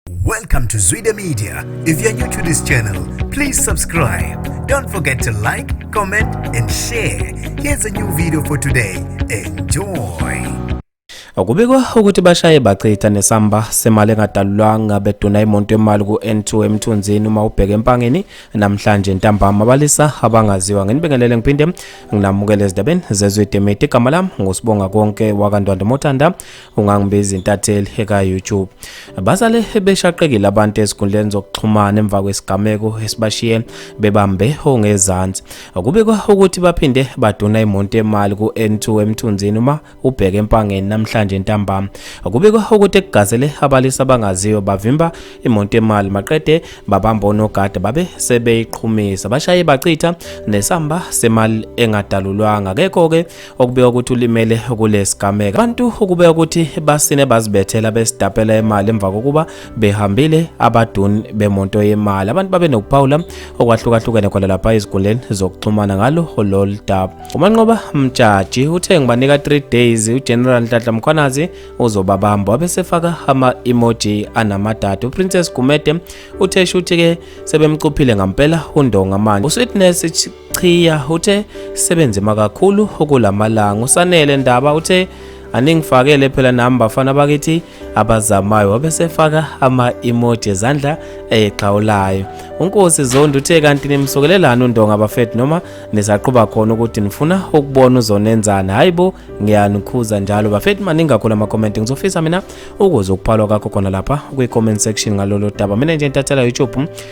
Welcome to Zwide Media. If you're new to this channel, please subscribe. Don't forget to like, comment and share. Here's a new video for today. Enjoy. Kubikwa ukuthi bashaye bachitha nesamba semali engadalulwanga beduna imonto yemali ku-N2 emthunzini uma ubheka empangeni namhlanje ntambama abalisa abangaziwa nginibingelele ngiphinde nginamukele ezindabeni zezwe demeti igama lami ngusibonga konke wakandwandwe mothanda ungangibiza intatheli eka-youtube basale beshaqekile abantu ezinkundleni zokuxhumana emva kwesigameko esibashiye bebambe ongezansi kubikwa ukuthi baphinde baduna imonto emali ku-n2 emthunzini uma ubheke empangeni namhlanje entambama kubikwa ukuthi ekugazele abalisa abangaziwa bavimba imonto emali maqede babamba onogada babe sebeyiqhumisa bashaye bachitha nesamba semali engadalulwanga kekho-ke okubeka ukuthi ulimele kulesigameko abantu ukubeka ukuthi basine bazibethela besidapela imali emva kokuba behambile abaduni bemonto yemali abantu babe nokuphawula okwahlukahlukene khona lapha ezigundleni zokuxhumana ngalo lolu daba umanqoba mjaji uthe ngibanika 3 days ugeneral nhlanhla mkhwanazi uzobabamba wabesefaka ama-emoji anamadada uprincess gumede uthe shuthi-ke sebemcuphile ngampela undonga manje usweetness Chiya uthe sebenze makakhulu ukulamalanga usanele ndaba uthe aningifakele phela nami bafana bakithi abazamayo wabesefaka ama-emoji ezandla exhawulayo unkosi zondi uthe kanti nimsokelelani undonga bafethu noma nisaqhuba khona ukuthi nifuna ukubona uzonenzani hhayi bo ngiyanikhuza njalo bafethu maningakhulu amakomenti ngizofisa mina ukuze ukuphalwa kakho khona lapha kwi-comment section ngalolo daba mina nje ntathela youtube